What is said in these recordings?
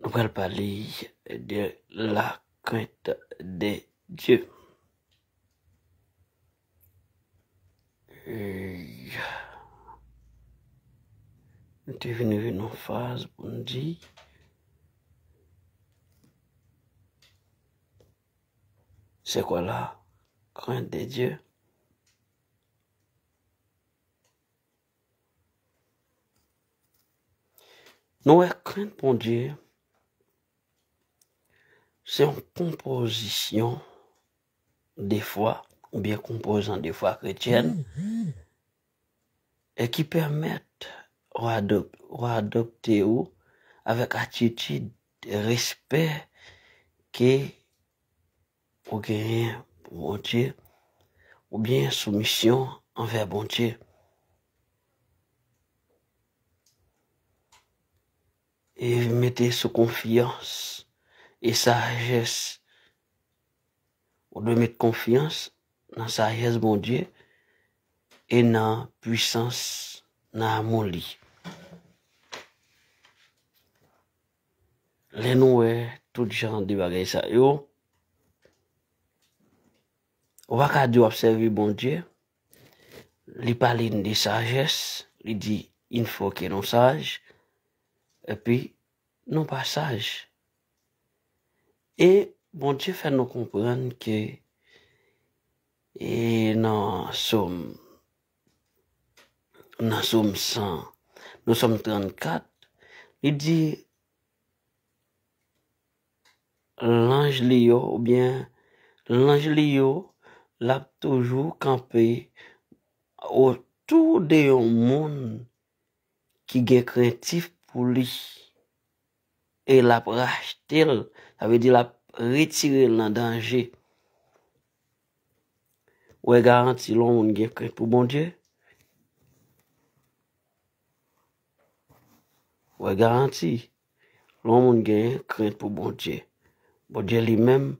Nou pral pale de la krent de Dye. Nou te vini vin nou faz pou nou di. Se kwa la krent de Dye? Nou wè krent Bondye se yon konpozisyon de fwa oubyen konpozan de fwa kretyèn e ki pèmèt ou adopte ou avèk atitid respè ke ou genyen pou Bondye oubyen soumisyon anvè Bondye. E mete sou konfyans e sajès. Ou dwe met konfyans nan sajès Bondye e nan pwisans nan amou li. Lè nou wè tout jan de bagay sa yo, ou pa ka di w ap sèvi Bondye. Li pale n de sajès, li di il fò ke nou saj, epi nou pa saj. E Bondye fè nou konprann ke e nan Som. Nan som 100, nan som 34, li di, lanj li yo, ou byen, lanj li yo, l ap toujou kanpe otou de yon moun ki gen krentif pou li. E l ap rachte l, sa vle di l ap retire l nan danje. Ou wè garanti lè yon moun gen krent pou Bondye? Ou wè garanti lè yon moun gen krent pou Bondye? Bondye li menm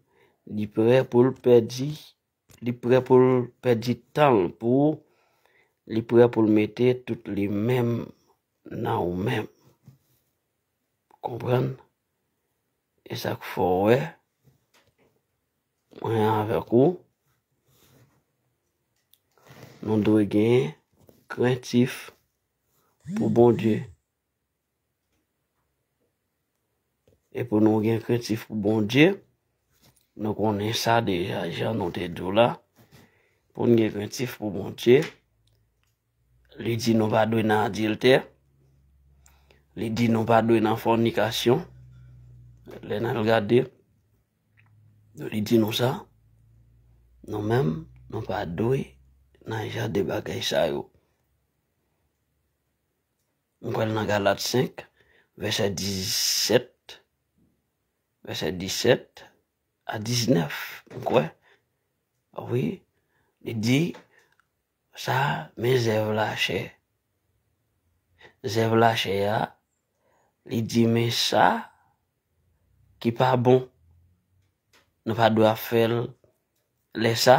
li prè pou l pèdi, li prè pou l pèdi tan l pou ou, li prè pou l mete tout li menm nan ou menm. Konprann? E sa k fè w wè mwen avèk ou nou dwe gen krentif pou Bondye. E pou nou gen krentif pou Bondye, nou konnen sa deja jan nou te di w la, pou n gen krentif pou Bondye, Li di nou pa dwe nan adiltè. Li di nou pa dwe nan fònikasyon. Lè n al gade, li di nou sa, nou menm nou pa dwe nan jan de bagay sa yo. Nou pral nan Galat 5, vèsè 17 vèsè 17 a 19, m kwè. Wi, li di. Sa men zèv lachè. Zèv lachè a, li di men sa ki pa bon. Nou pa dwe ap fè l. Lè sa,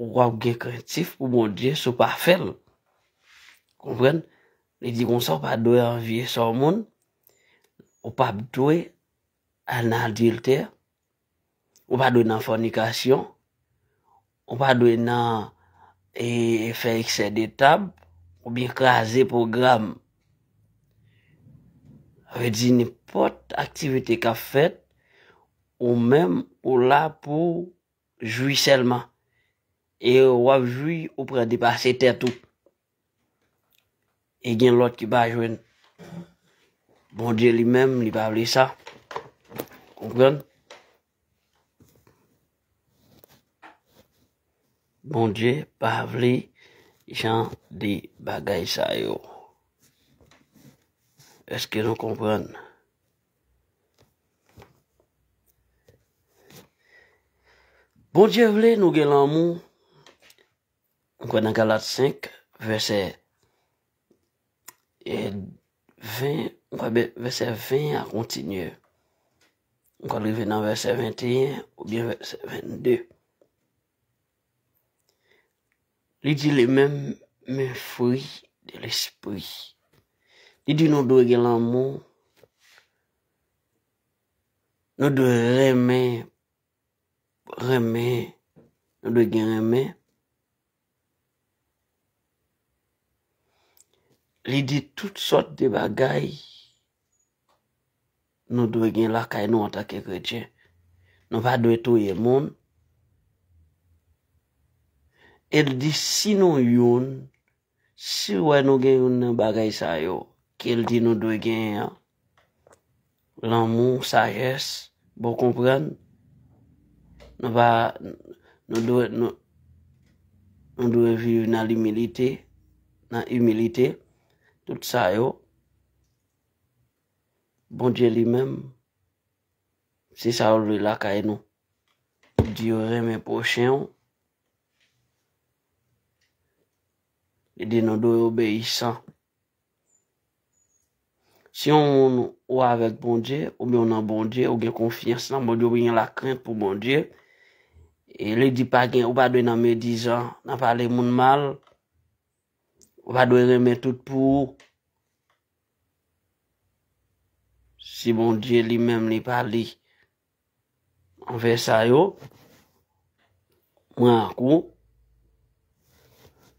ou ap gen krentif pou Bondye si w pa fè l. Konprann? Li di konsa ou pa dwe anvye sò moun, ou pap dwe al nan adiltè. Ou pa dwe nan fònikasyon. Ou pa dwe nan fè eksè de tab oubyen kraze pwogram. Sa vle di nenpòt aktivite k ap fèt, ou menm ou la pou jwi sèlman. E w ap jwi ou pran depase tèt ou. E gen lòt ki pa jwenn. Bondye li menm, li pa vle sa. Konprann? Bondye pa vle jan de bagay sa yo. Eske nou konprann? Bondye vle nou gen lanmou. Nou kwè nan Galat 5, vèsè 20, nou kwè bè vèsè 20 a kontinye. Nou kwè l rive nan vèsè 21 oubyen vèsè 22. Li di li menm men fwi de lespri. Li di nou dwe gen lanmou, nou dwe renmen renmen nou dwe gen renmen li di tout sòt de bagay nou dwe gen lakay nou antake kretyen nou pa dwe touye moun el di si nou youn Si wè nou gen youn nan bagay sa yo ke l di nou dwe genyen an, lanmou, sajès, bon konprann, nou va, nou dwe, nou dwe viv nan limilite, nan imilite, tout sa yo, Bondye li menm, se sa yo vle lakay nou. Li di yo renmen pwochen ou, Li di nou dwe obeyisan. Si yon moun ou avèk Bondye, ou bè ou nan Bondye, ou gen konfyans nan Bondye, ou gen lakrent pou Bondye, e li di pa gen, ou pa dwe nan medizan, nan pale moun mal, ou pa dwe renmen tout pou ou. Si Bondye li menm li pa li. Mwen fè sa yo. Mwen ak ou.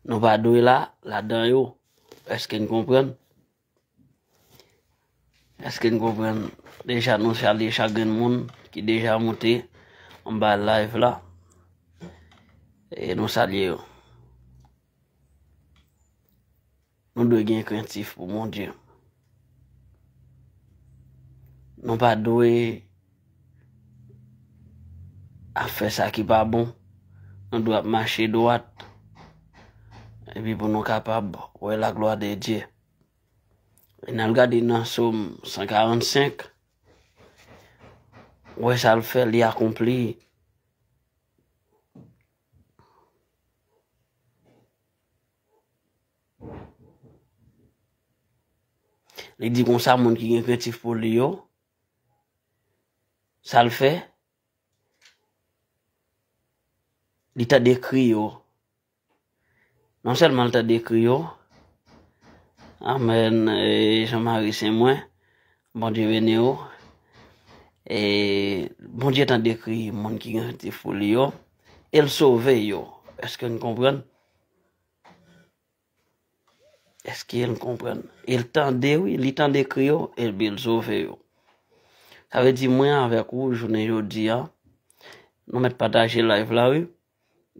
Nou pa dwe la, ladan yo. Eske n konprann? Eske n konprann? Deja nou salye chak grenn moun ki deja moute anba layv la. E nou salye yo. Nou dwe gen krentif pou Bondye. Nou pa dwe ap fè sa ki pa bon. Nou dwe ap mache dwat. Epi pou nou kapab wè la glwa de Dye. E nan l gade nan som 145, wè sa l fè li akonpli. Li di konsa moun ki gen krentif pou li yo, sa l fè, li tande kri yo. Non sèlman l tande kri yo, amèn, e Jean Marie se mwen. Bondye beniw e Bondye tan dekri moun ki gen ti fou li yo el sove yo eske nou konprann eske nou konprann el tande wi li tan dekri yo el bil sove yo sa vle di mwen avek ou jounen jodi a nou met pataje live la wi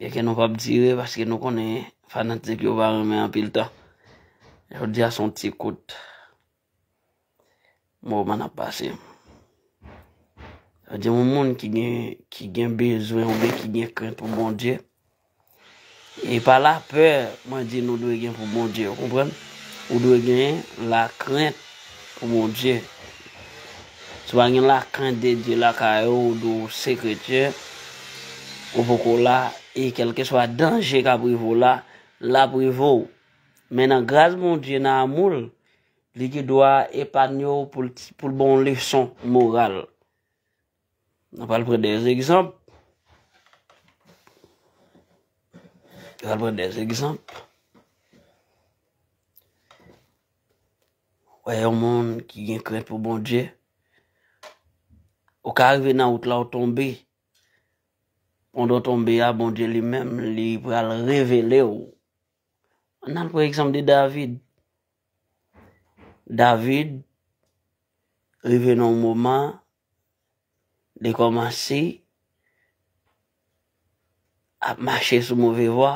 e ke nou pap dire paske nou konnen fanatik yo pa renmen anpil tan jodi a son ti kout Moman ap pase. Sa di yon moun ki gen ki gen bezwen ou byen ki gen krent pou Bondye. E pa la pè mwen di nou dwe gen pou Bondye, ou konprann? Ou dwe gen la krent pou Bondye. Si w pa gen la krent de Dye lakay ou, ou di w se kretyen, ou poko la, e kèlkeswa danje k ap rive w la, l ap rive w. Men nan gras Bondye, nan amou l, Li gen dwa epanye w pou l ban w leson moral. Nou pral pran de egzanp. Nou pral pran de egzanp. Wè yon moun ki gen krent pou Bondye, ou ka rive nan wout la ou tonbe, pandan ou tonbe a Bondye li menm li pral revele ou. An al pran egzanp de David. David rive nan yon moman li kòmanse ap mache sou move vwa,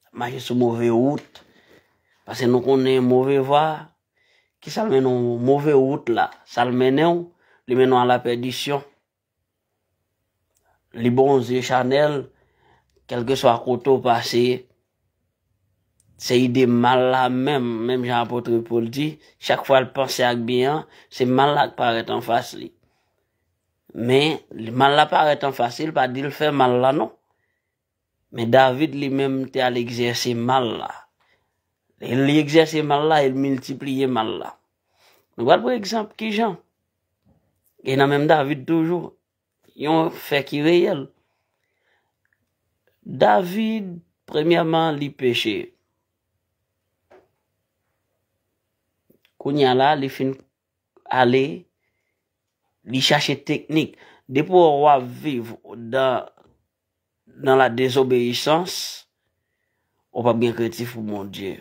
ap mache sou move wout. Pase nou konnen move vwa, ki sa l mennen w? Move wout la, sa l mennen w? Li mennen w a la pèdisyon. Li bon zye chanel, kelke swa kote ou pase, se ide mal la menm, menm jan apotre Paul di, chak fwa l panse ak byen an, se mal la k parèt anfas li. Men, mal la parèt anfas li, l pa di l fè mal la non. Men David li menm te al egzèse mal la. Lè li egzèse mal la, el miltipliye mal la. Nou pral pran egzanp ki jan. E nan menm David toujou, yon fè ki reyèl. David, premyèman li peche. Kounya la, li fin ale, li chache teknik. Depi ou wap viv dan Nan la dezobeyisans ou pap gen kretif pou Bondye.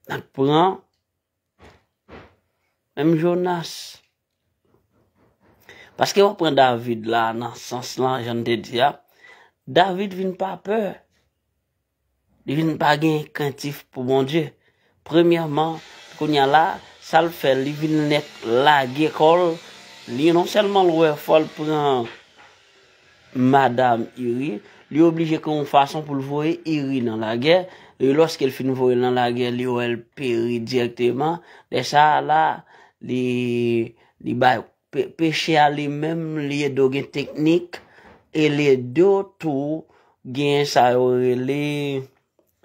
Nan pran menm Jonas. Paske wap pran David la nan sans lan jan te di a, David vin pa pè. Li vin pa gen krentif pou Bondye. Premyèman, kounye a la, sa l fè, li vin nèk lage kò l, li non sèlman l wè fò l pran madam Iri, li oblije gen yon fason pou l voye Iri nan lagè, e lòske l fin voye l nan lagè, li wè l peri dirèkteman, lè sa a la, li bay Peche a li menm li ye do gen teknik e li ye do tou gen sa yo rele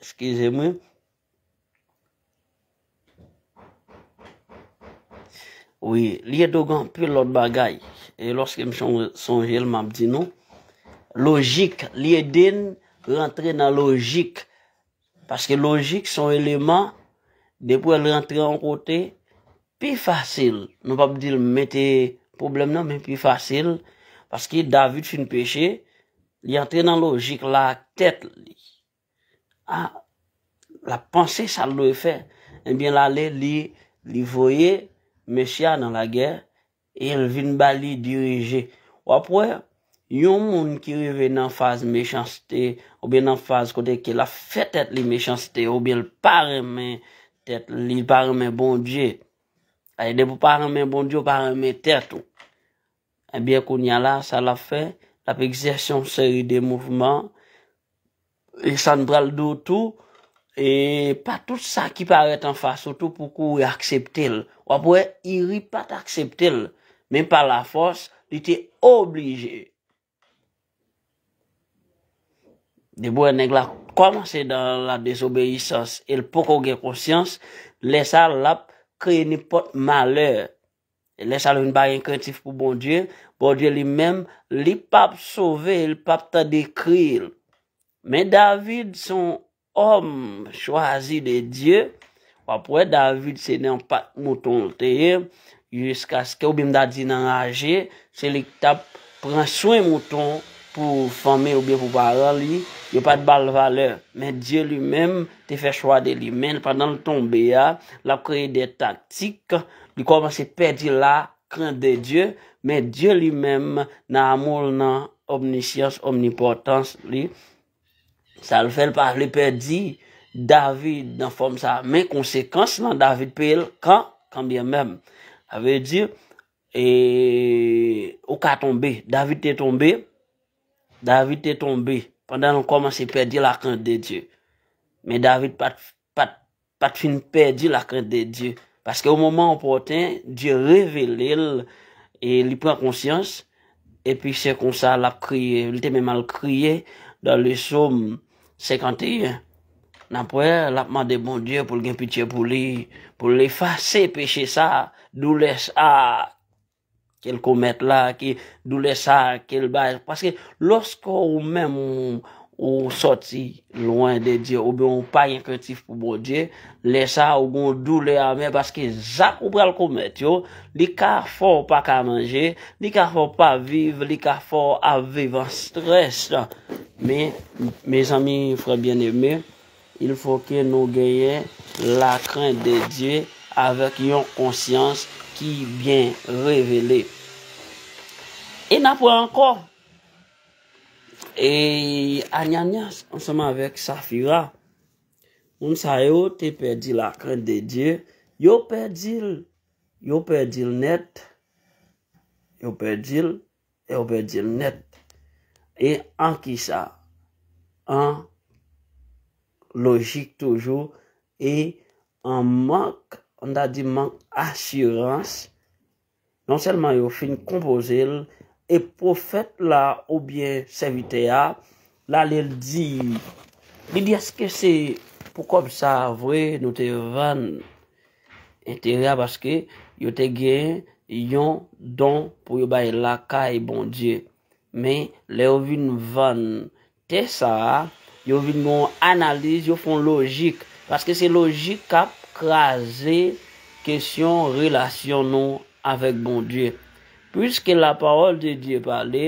eskize mwen wi li ye do gen anpil lòt bagay e lòske m sonje l m ap di nou lojik li ede n rantre nan lojik Paske lojik se yon eleman, depi wè l rantre yon kote, pi fasil, nou pap di l mete pwoblèm nan men pi fasil, paske David fin peche, li antre nan lojik la ak tèt li. A, l ap panse sa l dwe fè. Ebyen l ale li voye mesye a nan lagè, El vin ba li dirije. W ap wè, yon moun ki rive nan faz mechanste, oubyen nan faz kote ke l ap fè tèt li mechanste, oubyen l pa renmen tèt li, li pa renmen Bondye. Paske depi w pa renmen Bondye, w pa renmen tèt ou. Ebyen kounya la, sa l ap fè, l ap egzèse yon seri de mouvman, E sa n pral di w tou, e pa tout sa ki parèt anfas ou tou pou kouri aksepte l. W ap wè Iri pa t aksepte l, men pa lafòs, li te oblije. Depi w wè nèg la kòmanse dan la dezobeyisans e l poko gen konsyans, lè sa l ap kreye nenpòt malè. Lè sa nou vin pa gen krentif pou Bondye, Bondye li menm, li pap sove, li pap tande kri l. Men David se yon òm chwazi de Dye, w ap wè David se nan pak mouton l te ye, jiskaske oubyen m ta di nan raje, Se li k tap pran swen mouton pou fanmi l oubyen pou paran li, yo pat ba l valè. Men Dye li menm te fè chwa de li. Men pandan l tonbe a, l ap kreye de taktik, li kòmanse pèdi la krent de Dye, men Dye li menm nan amou l nan omnisyans, omnipòtans li, sa l fè l pa vle pèdi David nan fòm sa. Men konsekans lan David peye l kan, kan byen mèm. Sa vle di, E ou ka tonbe. David te tonbe. David te tonbe. Pandan l kòmanse pèdi lakrent de Dye. Men David pat fin pèdi lakrent de Dye. Paske o moman opòten, Dye revele l, e li pran konsyans, epi se konsa l ap kriye. Li te menm al kriye dan le som. 51, n ap wè l ap mande Bondye pou l gen pitye pou li, pou l efase peche sa a, doulè sa a ke l komèt la, ki doulè sa a ke l bay. Paske lòske ou menm ou sòti lwen de Dye, oubyen ou pa gen krentif pou Bondye, Lè sa a ou gen yon doulè amè paske zak ou pral komèt yo, li ka fè w pa ka manje, li ka fè w pa viv, li ka fè w ap viv an strès. Men, mezanmi, frè byeneme, ilfòke nou genyen lakrent de Dye avèk yon konsyans ki byen revele. E n apre ankò, e Anyanyas ansanm avèk Safira. Moun sa yo te pèdi la krent de Dye, yo pèdi l, yo pèdi l nèt, yo pèdi l, e yo pèdi l nèt. E an ki sa? An lojik toujou, e an mank, an ta di mank asirans, Non sèlman yo fin konpoze l, e pwofèt la oubyen sèvitè a l ale l di li di èske se pou kòb sa a vre nou te vann enterè a paske yo te gen yon don pou yo bay lakay Bondye. Men, lè yo vin vann Tè sa a, yo vin gen yon analiz, yo fè yon lojik. Paske se lojik k ap kraze kesyon relasyon nou avèk Bondye. Piske lapawòl de Dye pale,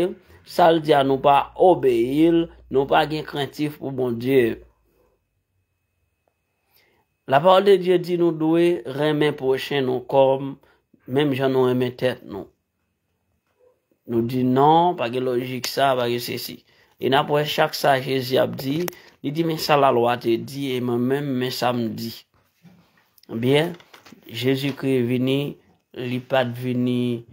sa l di a nou pa obeyi l, nou pa gen krentif pou Bondye. Lapawòl de Dye di nou dwe renmen pwochen nou kòm menm jan nou renmen tèt nou. Nou di non, pa gen lojik sa, pa gen sesi. E n ap wè chak sa Jezi ap di, li di men sa lalwa te di e mwen menm men sa m di. Byen, Jezikri vini, li pa t vini,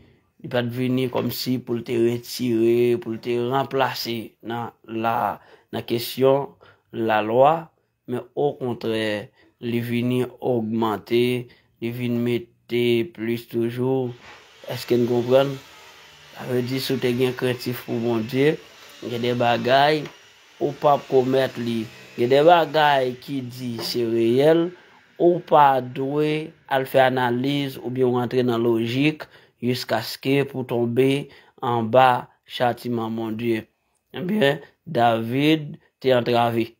li pa t vini kòmsi pou l te retire, pou l te ranplase nan kesyon lalwa. Men okontrè, li vini ogmante, li vin mete plis toujou. Èske n konprann? Sa vle di si w te gen krentif pou Bondye, gen de bagay ou p ap komèt li. Gen de bagay ki di se reyèl, ou pa dwe al fè analiz oubyen rantre nan lojik jiskaske pou tonbe anba chatiman Bondye. Ebyen, David te antrave.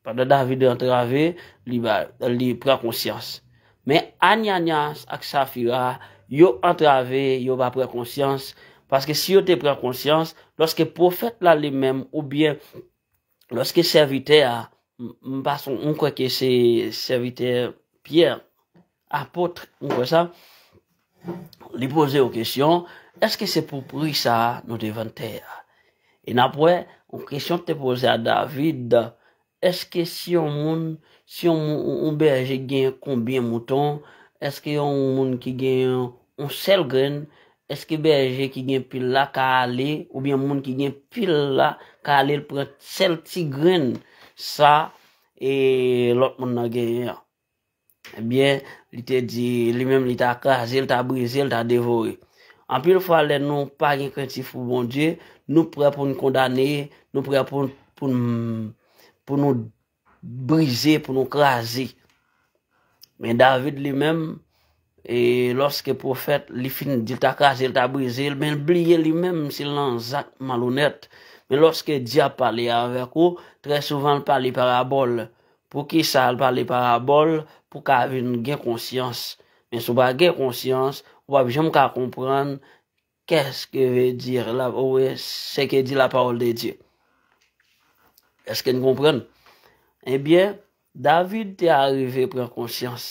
Pandan David antrave, li pran konsyans. Men Anianyas ak Safira, yo antrave, yo pa pran konsyans. Paske si yo te pran konsyans, lòske pwofèt la li menm oubyen lòske sèvitè a, m pa son, m kwè ke se sèvitè Pyè, Apotre, ou kwè sa? Li poze yon kesyon, Èske se pou pri sa a nou te vann tè a? E n ap wè, yon kesyon te poze a David, Èske si yon moun, si yon bèje gen konbyen mouton, èske yon moun ki gen yon sèl grenn, èske bèje ki gen pil la ka ale, oubyen moun ki gen pil la ka ale l pran sèl ti grenn sa lòt moun nan genyen an? Ebyen, li te di, li menm li ta kraze, li ta brize, li ta devore. Anpil fwa lè nou pa gen krentif pou Bondye, nou prè pou nou kondane, nou prè pou pou nou brize, pou nou kraze. Men David li menm, E lòske pwofèt li fin di l ta kraze l, ta brize l, men l bliye li menm si l nan zak malonèt. Men lòske dyab pale avèk ou, trè souvan l pale parabòl. Poukisa l pale parabòl? Pou w ka vin gen konsyans. Men si w pa gen konsyans, ou p ap janm ka konprann Qu'est-ce que veut dire la ou bien ce que dit la parole de Dieu? Est-ce que nou konprann? Eh bien, David te arive pran konsyans.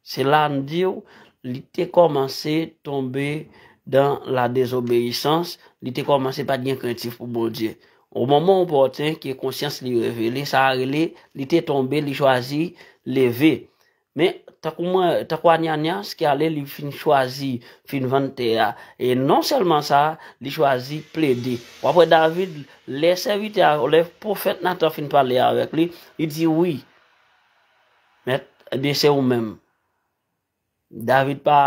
Se la m di w, li te kòmanse tonbe dan la dezobeyisans, li te kòmanse pa t gen krentif pou Bondye. O moman opòtin ke konsyans li revele, sa rele li te tonbe, li chwazi leve. Men, tankou mwen, tankou Ananias ki ale li fin chwazi fin vann tè a, e non sèlman sa, li chwazi plede. W ap wè David, lè sèvitè a, lè pwofèt Natan fin pale avèk li, li di, Wi, mèt, ebyen se ou menm. David pa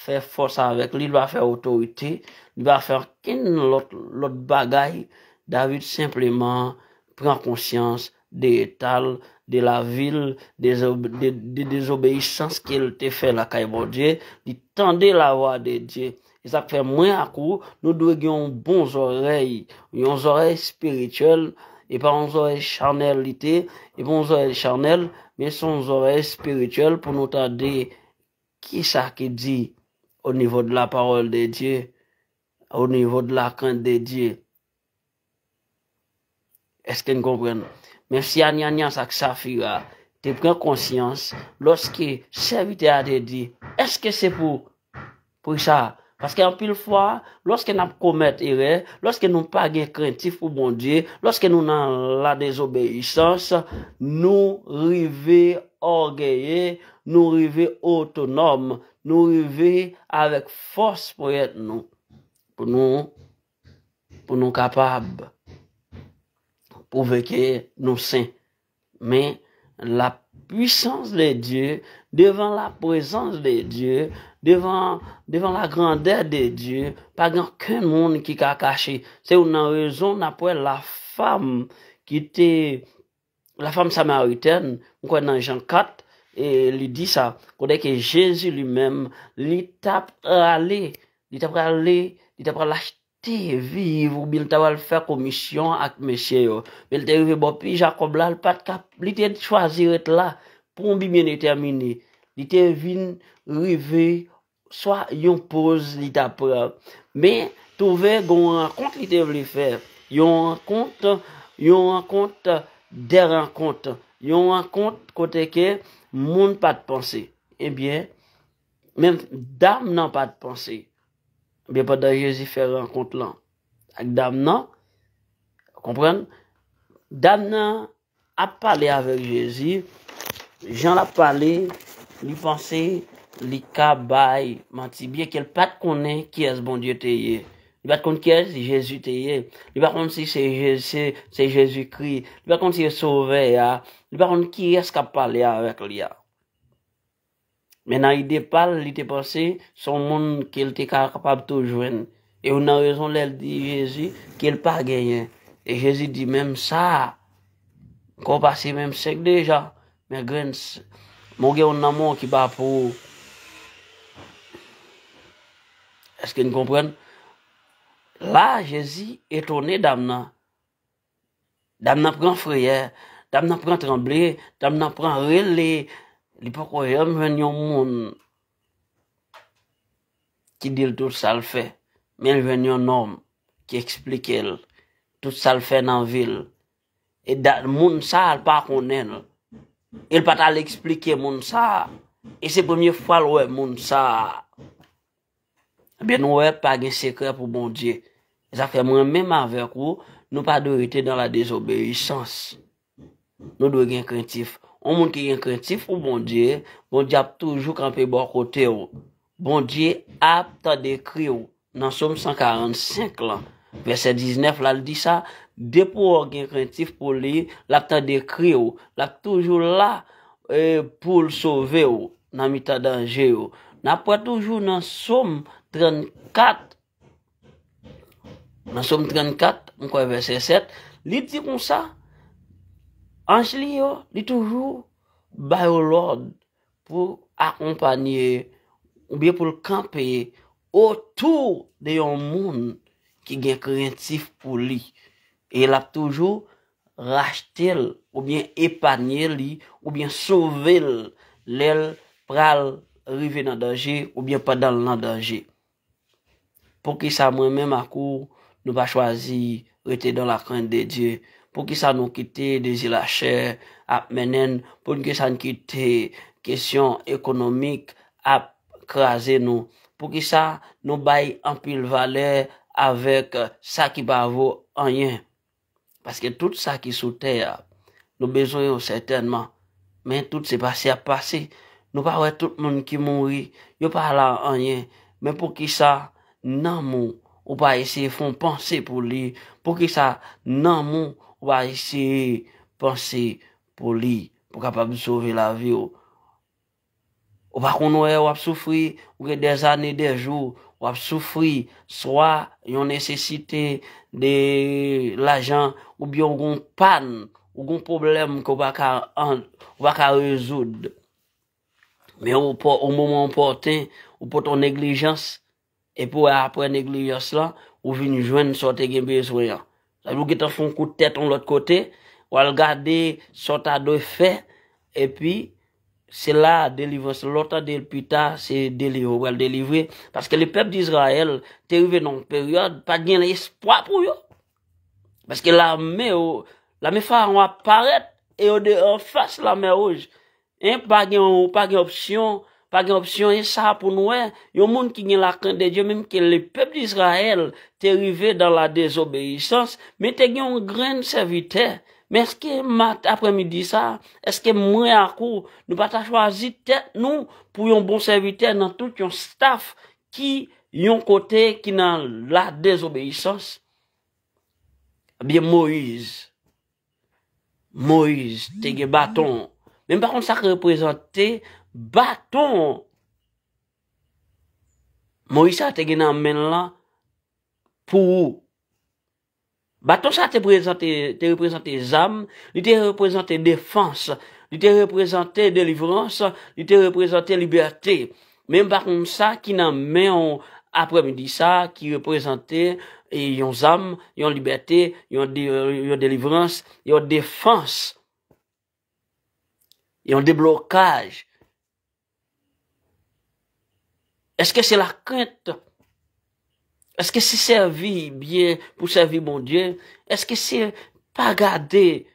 fè fòs avèk li, li pa fè otorite, li pa fè ankenn lòt bagay, David senpleman pran konsyans de etal, de lavil, de dezobeyisans ke l te fè lakay Bondye, li tande lavwa de Dye. E sa k fè mwen ak ou, nou dwe gen yon bon zòrèy, yon zòrèy espirityèl, e pa yon zòrèy chanèlite, e pa yon zòrèy chanèl, men se yon zòrèy espirityèl pou nou tande ki sa ki di o nivo de la pawòl de Dye, o nivo de la krent de Dye. Eske n konprann? Men si Ananyas ak Safira te pran konsyans lòske sèvitè a te di, Èske se pou. Pou sa? Paske anpil fwa, lòske n ap komèt erè, lòske nou pa gen krentif pou Bondye, lòske nou nan ladezobeyisans, nou rive ògeye, nou rive otonòm, nou rive avèk fòs ponyèt nou pou nou. pou nou kapab pwouve ke nou sen. Men, la pwisans de Dye, devan la prezans de Dye, devan la grandè de Dye, pa gen okenn moun ki ka kache. Se youn nan rezon n ap wè la fam ki te La femme samaritaine, m kwè nan Jean 4, e li di sa, kote ke Jezi li menm, li t ap prale, li t ap prale, li t ap pral achte viv oubyen li t ap pral fè komisyon ak mesye yo. Men l te rive bò pi Jakòb la, l pa t ka, li te chwazi ret la pou yon bi byen detèmine. Li te vin rive swa yon poz li tap pran men twouve gen yon rankont li te vle fè yon rankont yon rankont de rankont yon rankont kote ke moun pat panse ebyen menm dam nan pat panse ebyen pandan jezi fè rankont lan ak dam nan konprann dam nan Ap pale avèk Jezi, jan l ap pale, li panse li ka bay manti byenke l pa t konnen kiyès Bondye te ye. Li pa t konn kiyès Jezi te ye. Li pa konn si se Jezikri. Li pa t konn si se Sovè a. Li pa konn kiyès k ap pale avèk li a. Men nan ide pa l, li te panse se yon moun ke l te ka kapab tou jwenn. E youn nan rezon lè l di Jezi ke l pa genyen. E Jezi di, Menm sa a, kò w pase menm sèk deja, men grenn, men w gen youn nan men w ki pa pou ou. Èske n konprann? La a, Jezi etone dam nan. Dam nan pran frayè, dam nan pran tranble, dam nan pran rele, li poko janm jwenn yon moun ki di l tout sa l fè, men l jwenn yon nonm ki eksplike l tout sa l fè nan vi l. E moun sa l pa konnen l, e l pa t al eksplike moun sa a, e se premye fwa l wè moun sa a. Ebyen nou wè pa gen sekrè pou Bondye. Se sa k fè mwen menm avèk ou, nou pa dwe rete nan la dezobeyisans. Nou dwe gen krentif. Yon moun ki gen krentif pou Bondye, Bondye ap toujou kanpe bò kote ou. Bondye ap tande kri ou. Nan Som 145 lan, vèsè 19 la, l di sa, Depi w gen krentif pou li, l ap tande kri ou. L ap toujou la. Pou l sove w nan mitan danje yo. N ap wè toujou nan Som 34, nan Som 34, m kwè vèsè 7, li di konsa, anj li yo, li toujou ba yo lòd pou akonpanye, oubyen pou l kanpe otou de yon moun ki gen krentif pou li. E l ap toujou rachte l oubyen epanye li oubyen sove l lè l pral rive nan danje oubyen pandan l nan danje. Poukisa mwen menm ak ou nou pa chwazi rete dan la krent de Dye? Poukisa nou kite dezi lachè ap mennen n? Poukisa n kite kesyon ekonomik ap kraze nou? Poukisa nou bay anpil valè avèk sa ki pa vo anyen? Paske tout sa ki sou tè a, nou bezwen yo sètènman, men tout se pase y ap pase. Nou pa wè tout moun ki mouri, yo pa la anyen, men poukisa nanm ou, ou pa eseye fè yon panse pou li, poukisa nanm ou, ou pa eseye panse pou li, pou kapab sove lavi ou. Ou pa konn wè wap soufri, ou gen dè zane, dè jou wap soufri, swa yon nesesite de lajan, ou byen ou gen yon pàn, ou gen yon pwoblèm ke w pa ka, ou pa ka rezoud. Men o moman opòten, ou pote yon neglijans, Epi wè aprè neglijans lan, ou vin jwenn sa w te gen bezwen an. Sa vle di ou gentan fè yon kout tèt yon lòt kote, w al gade sa w ta dwe fè, epi se la a delivrans lan, lè w tande l pita, se delivre ou pral delivre. Paske le pèp Dizrayèl te rive nan yon peryòd, pa t gen espwa pou yo. Paske lame yo, lame Farawon ap parèt, e yo de anfas Lanmè Wouj. Hein pa gen yon pa gen opsyon pa gen opsyon e sa pou nou wè yon moun ki gen la krent de Dye menm ke le pèp de Izrayèl te rive dan la dezobeyisans men te gen yon grenn sèvitè men eske mat aprè midi sa eske mwen ak ou nou pa ta chwazi tèt nou pou yon bon sèvitè nan tout yon staf ki yon kote ki nan la dezobeyisans ebyen Moyiz Moyiz te gen baton. Men m pa konn sa k reprezante baton Moyiz sa te gen nan men l lan pou ou. Baton sa te reprezante zam, li te reprezante defans, li te reprezante delivrans, li te reprezante libète. Men m pa konn sa ki nan men w aprèmidi sa a ki reprezante yon zam, yon libète, yon delivrans, yon defans, yon deblokaj. Eske se lakrent? Eske se sèvi byen pou sèvi Bondye? Eske se pa gade,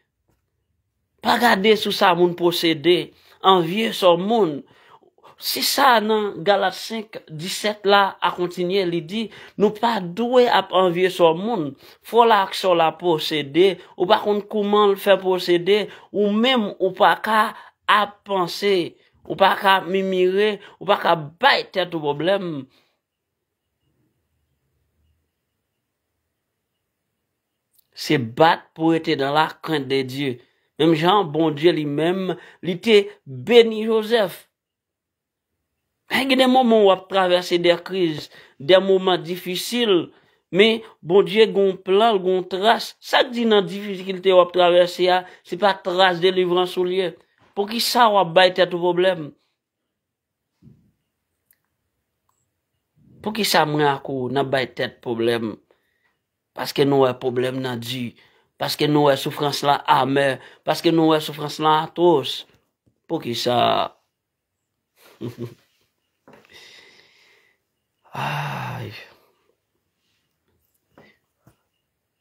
pa gade sou sa moun posede, anvye sò moun? Se sa nan Galat 5, 17 la a kontinye, li di, nou pa dwe ap anvye sò moun. Frè w la ak sè w la posede, ou pa konn kouman l fè posede, ou menm ou pa ka ap panse, ou pa ka ap mimire, ou pa ka bay tèt ou pwoblèm. Se bat pou rete dan la krent de Dye. Menm jan an Bondye li menm li te beni Jozèf. Hay gen de moman ou ap travèse de kriz, de moman difisil, men Bondye gen yon plan, l gen yon tras. Sa k di nan difikilte ou ap travèse a, se pa tras delivrans ou l ye? Poukisa ou ap bay tèt ou pwoblèm? Poukisa mwen ak ou nap bay tèt pwoblèm paske nou wè pwoblèm nan di, paske nou wè soufrans lan amè, paske nou wè soufrans lan atwos? Poukisa?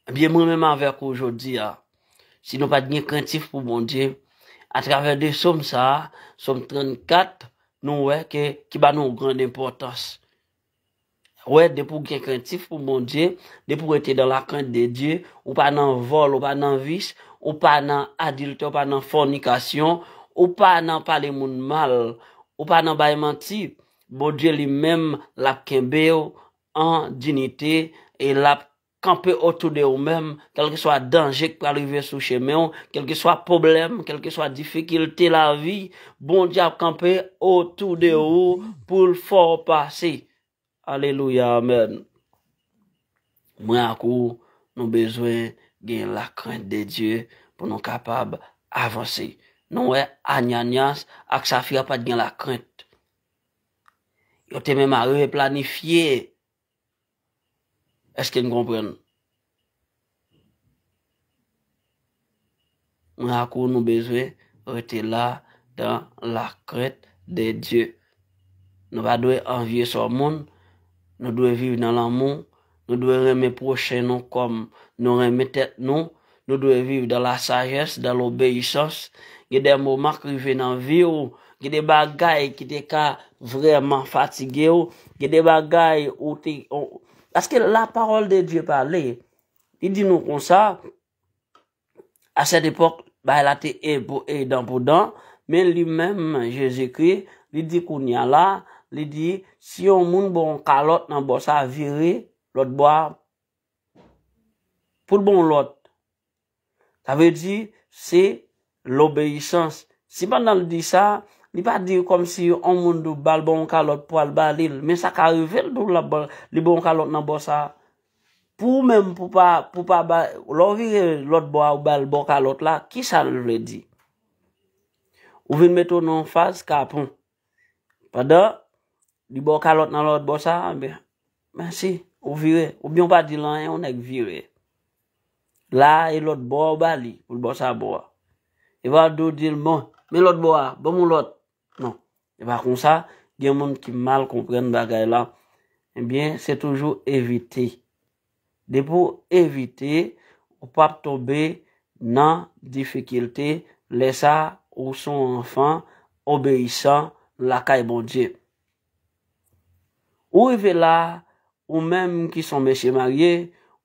Ebyen mwen menm avèk ou jodi a, si nou pa t gen krentif pou Bondye, atravè de som sa a, som 34, nou wè ke ki ba nou yon gran enpòtans. Wè, depi ou gen krentif pou Bondye, depi ou rete dan la krent de Dye, ou pa nan vòl, ou pa nan vis, ou pa nan adiltè, ou pa nan fònikasyon, ou pa nan pale moun mal, ou pa nan bay manti, Bondye li menm l ap kenbe ou an dinite e l ap kanpe otou de ou menm, kèlkeswa danje k pral rive sou chemen w, kèlkeswa pwoblèm, kèlkeswa difikilte lavi, Bondye ap kanpe otou de ou pou l fè w pase. Alelouya amèn. Mwen ak ou nou bezwen gen lakrent de Dye pou nou kapab avanse. Nou wè Ananyas ak Safira pa t gen lakrent. Yo te menm arive planifye. Eske n konprann? Mwen ak ou nou bezwen rete la dan la krent de Dye. Nou pa dwe anvye sò moun, nou dwe viv nan lanmou. Nou dwe renmen pwochen nou kòm nou renmen tèt nou. Nou dwe viv dan la sajès, dan lobeyisans. Gen de moman k rive nan vi w, gen de bagay ki te ka vrèman fatige w, gen de bagay ou te, paske la pawòl de Dye pale, li di nou konsa, A cette époque, bagay la te enpo e dan pou dan, men li menm Jezikri, li di kounya la, li di, si yon moun ba w yon kalòt nan bò sa, vire lòt bò a pou l ba w yon lòt. Sa vle di, se lobeyisans. Si pandan l di sa, li pa di kòm si yon moun tou ba l ba w yon kalòt pou al ba li l, men sa ka rive l tou li ba w yon kalòt nan bò sa, Pou ou menm pou pa, pou pa ba, lè ou vire lòt bò a ou bal bò kalòt la, ki sa l vle di? Ou vin mete w nan yon faz kapon. Pandan, li ba w kalòt nan lòt bò sa, ebyen, mèsi, ou vire. Oubyen ou pa di l anyen, yon nèg vire. La a, e lòt bò a ou ba li, pou l ba w sa bò a. E pa di w di l, bon, men lòt bò a, ban m yon lòt. Non. E pa konsa, gen moun ki mal konprann bagay la. Ebyen, se toujou evite. Depi w evite, ou p ap tonbe nan difikilte, lè sa a, ou se yon anfan obeyisan lakay Bondye. Ou rive la a, ou menm ki se yon mesye marye,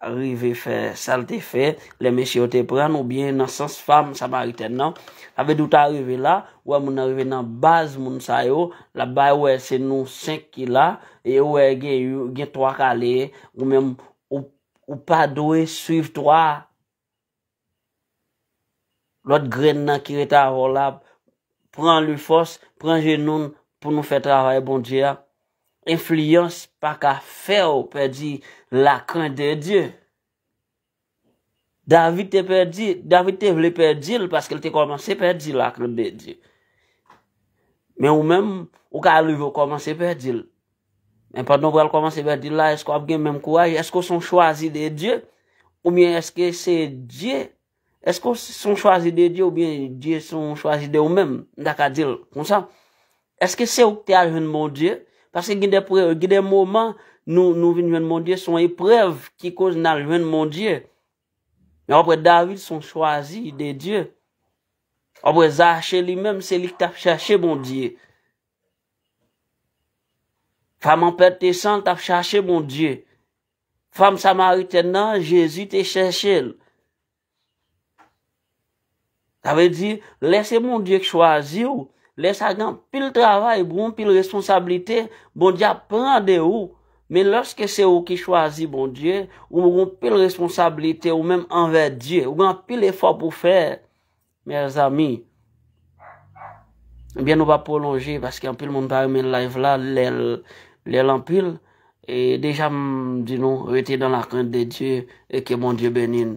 rive fè sa l te fè lè mesye yo te pran l oubyen nan sans fanm samaritèn nan. Sa vle di ou ta rive la, ou wè moun nan rive nan baz moun sa yo, l ap bay wè se nou senk ki la, e ou wè gen twa kale, ou menm ou pa dwe swiv twa a. Lòt grenn nan ki ret avè w la, pran lu fòs, pran jenou n pou nou fè travay Bondye a. Enfliyans pa ka fè w pèdi la krent de Dye. David te pèdi, David te vle pèdi l paske l te kòmanse pèdi la krent de Dye. Men ou menm, ou ka rive w kòmanse pèdi l. Men pandan w pral kòmanse bèdil la, èske w ap gen menm kouraj? Èske w se yon chwazi de Dye? Oubyen èske se Dye? Èske w se yon chwazi de Dye oubyen Dye se yon chwazi de ou menm? M ta ka di l konsa. Èske se ou ki te al jwenn Bondye? Paske gen de pre, gen de moman nou nou vin jwenn Bondye, se yon eprèv ki koz nan jwenn Bondye. Men w ap wè David se yon chwazi de Dye. W ap wè Zache li menm se li ki t ap chache Bondye. Fam an pèt te san l tap chache Bondye. Fam samaritèn nan, Jezi te chèche l. Sa vle di, lè se Bondye k chwazi w, lè sa gen pil travay, gon pil responsablite, Bondye ap pran de ou. Men lòske se ou ki chwazi Bondye, ou gon pil responsablite ou menm anvè Dye. Ou gen pil efò pou fè. Mèzami Ebyen nou pa pwolonje paske anpil moun pa renmen live la lèl anpil e deja m di nou rete dan la krent de Dye e ke Bondye beni n.